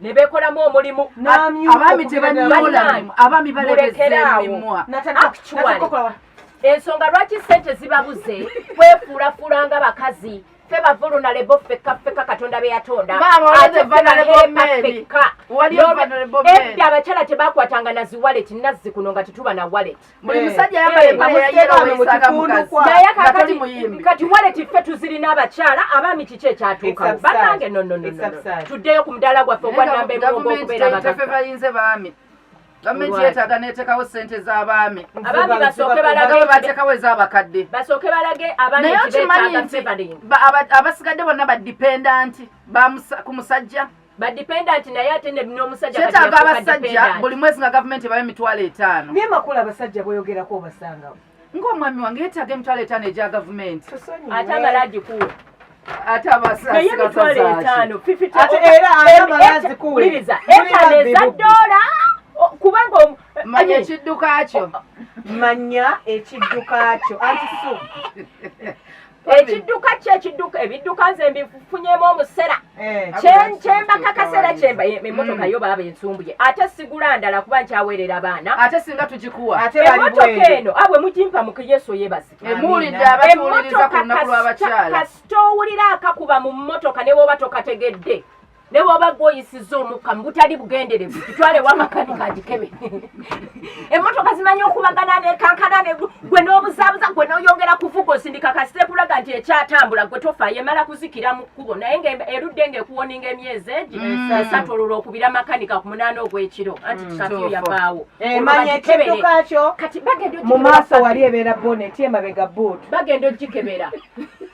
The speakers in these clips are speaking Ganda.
nebekolamu omulimu abaami tebanyoolaabami balekereawo ensonga lwaki sente zibabuze kwefuulafuula nga bakazi fe bavuluna lebo fekka fekka katonda beyatonda abakyala tebakwatanga naziwalet nazzi kuno nga tetuba na walet buli eh. musajja yambala eh, empale ya yero weyisaga mukazi naye kakati kati waleti ffe tuzirina abakyala abaami kiki ekyatuukawo banange nonono tuddeyo ku mudaala gwaffe ogwanamba emulongo okubeera bagaffe bayinze baami gavumenti yetaaga netekawo sente zabaami abaami basooke balage batekawo ezabakadde basooke balage naye okimanyi nti abasigadde bonna badipendanti ku musajja ba dependent naye ate ne n'omusajja kati kyetaaga abasajja buli mwezi nga gavumenti ebayo emitwalo etaano naye makula abasajja boyogerako obasangawo ng'omwami wange yetaaga emitwalo etaano egya gavumenti ate amala agikuwa ate abasaasi emitwalo etaano ate era amala agikuwa etaano eza ddoola kubanga manya ekidduka kyo manya ekidduka kyo anti so ekidduka ki ekidduka ebidduka nze mbifunyemu omusera eh. kyemba kakaseera kyemba emotoka mm. yo baaba ensumbye ate sigula ndala kuba nkyaweerera abaana ate singa tugikuwa emotoka eno abwe ah, mugimpa mu yesu yebazikaemotokakasitowulira akakuba mu motoka newoba tokategedde ne bwoba gwe oyisizza omukka mu butali bugenderevu kitwale wamakanika agikebe emmotoka zimanyi okubagana nekankana gwe n'obuzaabuza gwe n'oyongera kuvuga osindika kasita ekulaga nti ekyatambula gwe tofa yemala kuzikira mu kkubo naye nga erudde nga ekuwoninga emyezi egi mm. esatu olwo lwokubira makanika ku munaana ogw'ekiro anti mm. kikafiyo yavaawo kati bagenda mu maaso wali ebeera boneti emabega buutu bagenda ogikebera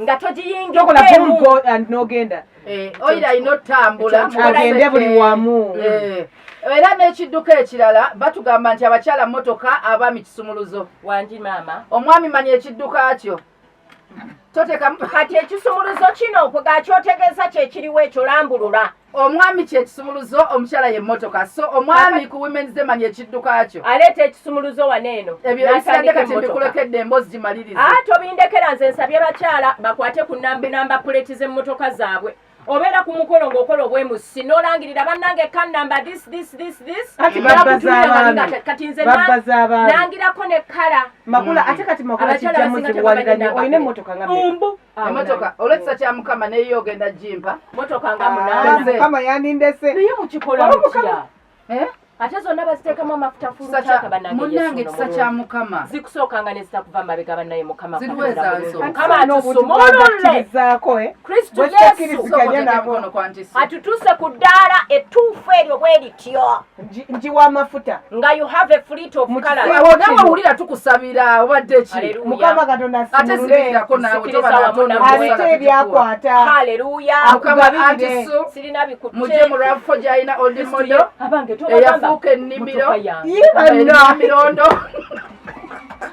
nga togiyingiddemuogenda eh, oyira alina otutambula agende buli wamu eh. era n'ekidduka ekirala batugamba nti abakyala motoka abaami kisumuluzo wangi maama omwami manya ekidduka kyo totekamu kati ekisumuluzo kino kwegakyotegeeza kyekiriwo ekyo lambulula omwami kyekisumuluzo omukyala ye motoka so omwami ku women's day manya ekidduka kyo aleeta ekisumuluzo wano eno ebyobisadde kati mbikulekedde emboozi gimaliriza ah, tobindekera nze nsabye bakyala bakwate ku namba namba puleti z'emmotoka zaabwe obeera ku mukolo ng'okola obwemusi n'olangirira bannange ka namba this this this this kati nze nangirako ne kala makula ate kati makula kijjamu zibuwalira nyo olina emmotoka nga mbu emotoka olwekisa kya mukama neyo ogenda jimpa motoka nga munamukama yandindese naye mukikola mutya eh? ate zonna baziteekamu amafuta fulumunange kisa kya mukama zikusooka nga nezitakuva mabega banaye mukamamukamaatusumoololekristu eh? yesu atutuuse ku ddaala ettuufu eryo bwe lityo njiwa amafuta nga you have a fleet of colors wewe nawe ulira tukusabira obadde ki mukama katonda atezirirako nawe toba natonda ate byakwata haleluya akugabire ati so sirina bikutse muje mu rafo jaina old model abange toba yafuka enimiro yiba mirondo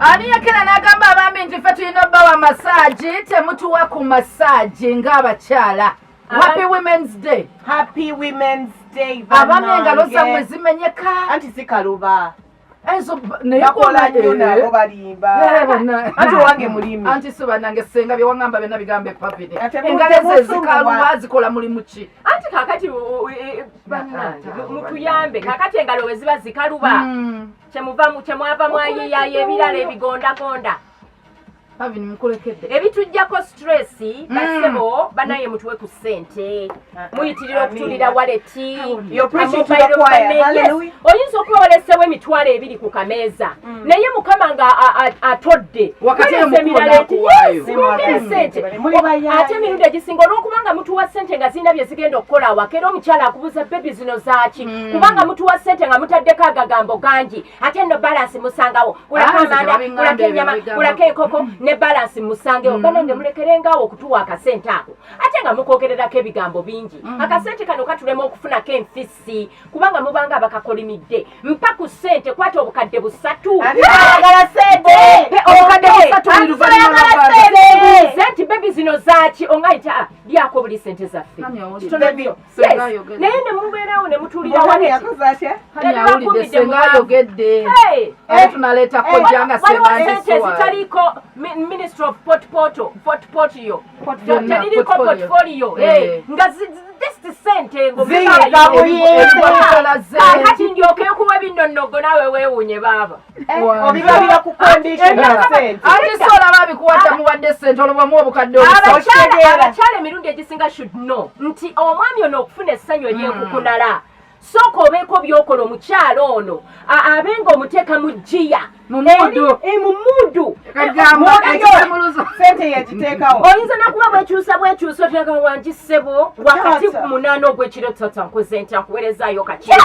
ani yakera n'agamba abambi nti ffe tulina obbawa masaagi temutuwa ku masaagi ng'abakyala Happy Women's Day. Happy Women's Day. Abami engalo zamwe zimenyeka. Anti sikaluba. Ezo naye kola nyo eh. nabo balimba. Eh, bana. Anti wange mulimi. Anti so banange senga bye wangamba bena bigambe papide. Engalo ze zikaluba zikola mulimu ki? Anti kakati e, e, banange mutuyambe. Kakati engalo we ziba zikaluba. Hmm. Kyemuva mu kyemwava mwayiyaye ebirala ebigonda gonda. Pavin mukulekedde ebitujjako stress mm. basebo banaye mutuwe ku ssente ah, muyitirira ah, okutulira waleti oyinza okuba walesewo emitwalo ebiri ku kameeza mm. naye mukama nga atodde ate emirundi egisinga olwokuba nga mutuwa ssente nga zirina bye zigenda okukola awaka era omukyala akubuza bebi zino zaaki mm. kubanga mutuwa ssente nga mutaddeko agagambo gangi ate no balance musangawo kulako amanda kulako enyama kulako enkoko ne balance musangewo mm. banange mulekerengawo okutuwa akasente ako ate nga mukogererako ebigambo bingi mm. akasente kano katulema okufunako enfisi kubanga mubanga abakakolimidde mpa ku sente kwata obukadde busatu nti bebi zino zaki ongaita ah, lyako buli sente zaffe naye ne mubeerawo ne mutuliraayogeddetunaleetakojangazitaliiko ministry of portpoto portpotio teririiko portfolio nga sente ngomukati ndyoke okuwa ebinonnogo nawe weewunye baaba obibabira ku babikuwata muwadde sente olobwamu obukadde abakyala emirundi egisinga should know nti omwami ono okufuna essanyu eryekukunala mm. sooka obeeko byokola omukyala ono abe nga omuteeka mu jjiya mumuudu oyinza nakuba bwekyusa bwekyusa oteeka wangi ssebo wakati ku munaana ogwekiro tata nkuze nti akuwerezaayo kakiro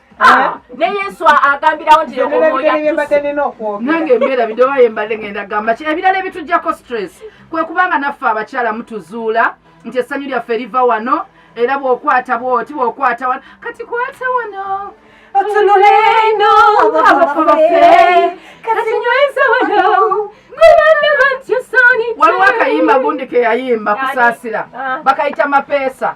Ah, ne yesu agambirawo nti nange embeera bidoba yembadde ngenda gamba ki ebirala ebitujjako stress kwe kubanga naffe abakyala mutuzuula nti essanyu lyaffe liva wano era bwokwata bwoti bwokwata wano kati kwata wano otunuleno abafu baffe kati nyweza wano waliwo akayimba gundi keyayimba kusaasira ah. bakayita mapeesa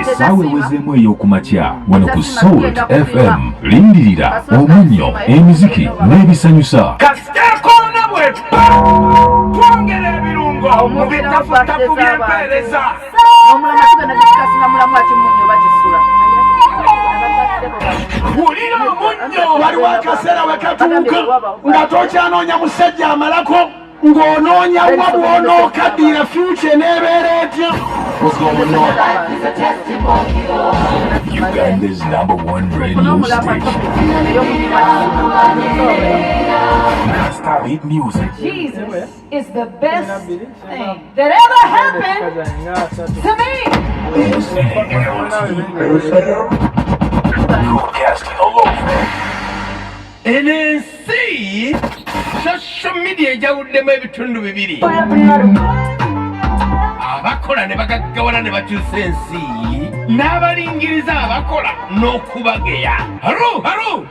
essaawa ewezeemu ey'okumakya wano ku salt fm lindirira omunnyo emiziki n'ebisanyusa kasitekoona bwetwa twongera ebirungo mu bitafuttafu by'empeereza wulira omunnyo waliwo akaseera wekatuuka nga tokyanoonya musajja amalako ng'onoonya wa bwonookaddiira fyuca eneebeera etya Uganda's number one radio station. Non-stop hit music. Jesus. is the best thing that ever happened to me. Broadcasting all over. And then see social media ejawuddemu ebitundu bibiri abakola ne bagaggawala ne bakyusa ensi n'abalingiriza abakola n'okubageya haru haru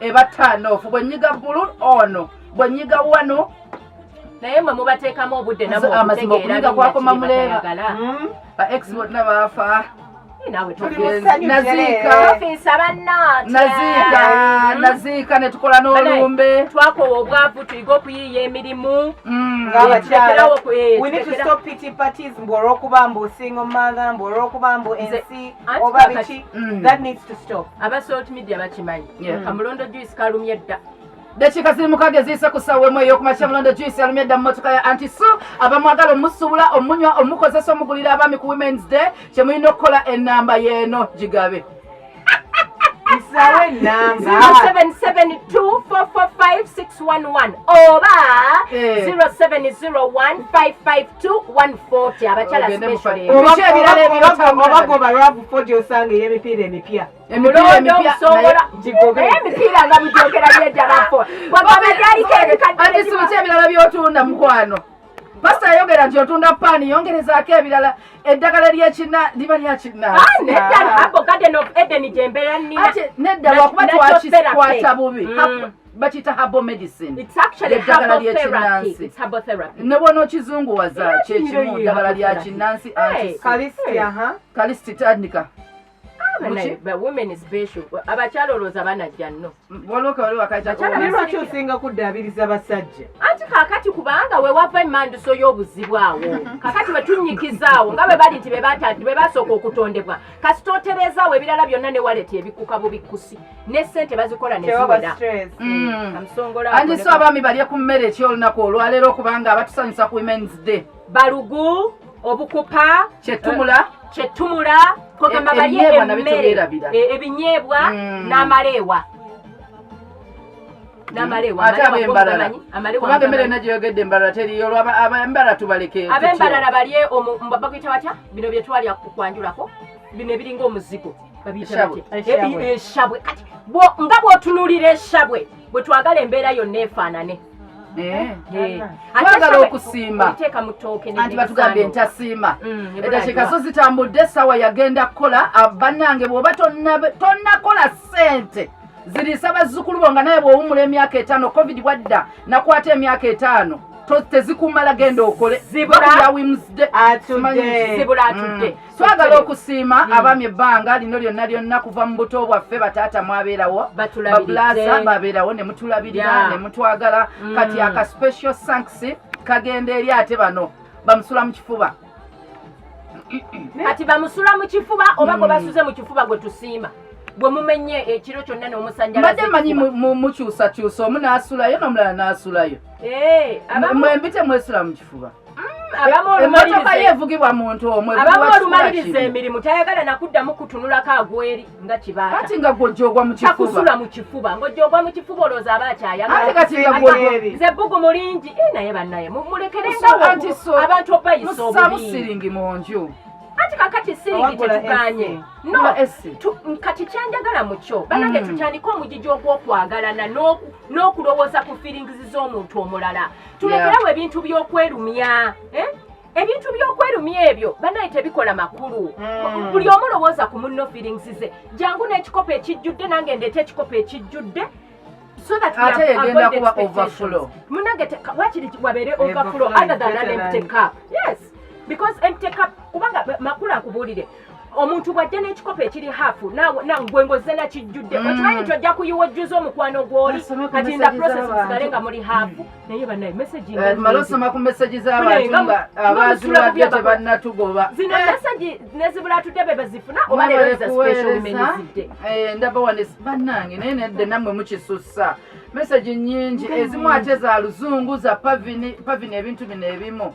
eba turn off bwe nyiga bbulu ono bwe nyiga wano naye mwe mubateekamu obudde namazima okuyiga kwakoma muleeba hmm? ba ex bonna baafa naziika netukola n'olumbe twakowa obwavu tuyiga okuyiiya emirimu hmm. ngabakyalaolwokuba eh, mbu olwokuba mbu singo mother mbu olwokuba mbu ensi oba biki mm. that needs to stop aba salt media bakimanyi yeah. kamulondo juice kalumye dda dakiika ziri mukaaga eziyise ku ssaawa emu ey'okumakya mulondo juice yalumye dda mu motoka ya anti su abamwagala omusuubula omunywa omukozesa omugulira abaami ku women's day kye mulina okukola ennamba y'eno gigabe oba 070155 140 abakyala specialbagoba lwavu fodi osanga ey'emipiira emipya emipiira nga bujogera byejabafo wagamba gyaliko ebikaddeekisibuki ebirala byotunda mukwano pasita yayogera nti otunda paani yongerezaako ebirala eddagala lyekina liba lyakinaanedda ah, wakuba twakikwata bubi mm. bakiyita herbal medicine It's actually eddagala herbal therapy. ly'ekinnansi It's herbal therapy. ne bwona okizunguwaza Era kyekimu kinyirira ddagala lya herbal kinnansi Hey. anti kalisiti aha kalisiti tandika But Muki? like, but women is special. Abakyala olowooza banajja nno. waliwo kawali wakati Bakyala naye lwaki osinga kuddaabiriza basajja Anti kakati kubanga we wava emmanduso y'obuzibu awo. Kakati we tunnyikizaawo nga bwe bali nti be bata- be basooka okutondebwa. Kasita otereezaawo ebirala byonna ne waleti ebikkuka bubikkusi. ne sente bazikola neziwera mm. andi so abaami balye ku mmere ekyo olunaku olwaleero okubanga abatusanyusa ku women's day balugu obukupa kyetumula eh, kyetumula kogamba e- balye emmere e- ebinyeebwa mm. n'amaleewa kubanga emmere ena gyeyogedde embalala teriyo olwaba abembalala tubaleke abembalala balye bakuyita batya bino byetwalya kwanjulako bino ebiringa omuzigo eshabwe kati nga bwotunulira eshabwe bwetwagala embeera yonna efaanane eh. eh. twagala okusiima anti batugambye ntasiima mm, edakikaso zitambudde essaawa yagenda kukola ah, bannange bwoba tonnakola ssente ziriisa bazzukulu bo nga naye bwowumula emyaka etaano covid bwadda nakwata emyaka etaano tezikumala genda okole zibula atudde twagala okusiima hmm. abami ebbanga lino lyonna lyonna kuva mu buto bwaffe bataata mwabeerawo babulaza babeerawo ne mutulabirira ne mutwagala hmm. kati aka special thanks kagenda eri ate bano bamusula mu kifuba kati bamusula mu kifuba oba gwe hmm. basuze mu kifuba gwe tusiima bwe mumenye ekiro kyonna n'omusanjalaze mbadde manyi mukyusakyusa omu n'asulayo n'omulala n'asulayo eh, mwembite mwesula mu kifuba emotoka ye evugibwa muntu omwe abamu olumaliriza emirimu tayagala nakuddamu kutunulako agweri nga kibaata kati nga gwojogwa mukifubakusula mu kifuba ngojogwa mu kifuba olowooza aba akyayagalaze bbugu mulingi eh, naye bannaye mulekerengabantu obayisa obubimusiringi mu nju kati kakati siringi tetuganye no kati kyenjagala mukyo banange hmm. tutandike omugigi ogwokwagalana n'okulowooza ku feelings z'omuntu omulala tulekerewo ebintu by'okwerumya eh? ebintu by'okwerumya ebyo banaye tebikola makulu hmm. buli omu lowooza ku munno feelings ze jangu n'ekikopo ekijjudde nange ndeeta ekikopo ekijjudde so that we have avoided expectations. Munage te what did wabere overflow other than an empty cup. Yes. Because empty cup kubanga makula kubulire. omuntu bwajja n'ekikopo ekiri hafu gwe ngozze nakijjudde mm. okimanyi nti ojja kuyiwa ojjuza omukwano gwoli kati nda process musigale nga muli hafu naye banaye mesagi eh, mala osoma ku mesagi z'abantu nga abazirwadde tebannatugoba zino eh. mesagi nezibula atudde be bazifuna oba leero za special bimenyezidde eh, ndaba wane bannange naye nedde nammwe mukisussa mesagi nyingi ezimu ate za luzungu za pavini ebintu bino ebimu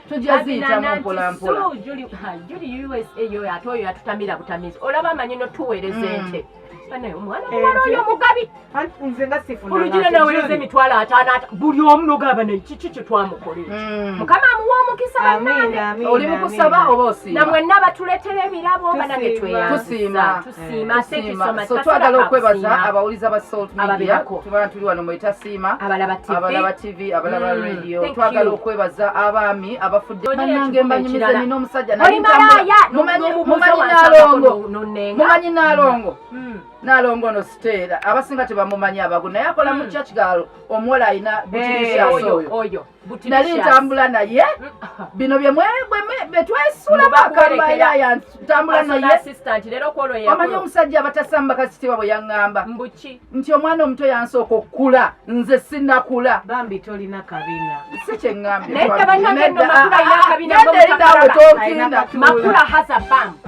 tujja ziyitamu mpolampola juli usa yoyo ate oyo yatutamira butamizi olaba amanyi notuweereza mm. ente nzenaweereza emitwalo ataano buli omu nogamba naye kiki kyetwamukolera mm. mukama amuwa omukisa banange oli mukusaba oba osiima namwenna batuletera ebirabo banange tweyanzisa Siima, eh, thank you so much. So twagala okwebaza abawuliza ba Salt Media tubana tuli wano mweta Siima abalaba TV abalaba TV abalaba mm, radio twagala okwebaza abaami abafudde banange mbanyumiza nina omusajja nali mumanyi nalongo mumanyi mm. nalongo mm. nalongo no siteera abasinga tebamumanyi abagu naye akola mu church galo omuwala alina butirishaso oyo nali ntambula naye bino byetwesulamu akamayaya ntambula nayeomanyi omusajja abatasamba kasitiba bwe yaŋŋamba nti omwana omuto yansooka okukula nze sinakula bambi tolina kabina si kyeŋŋambye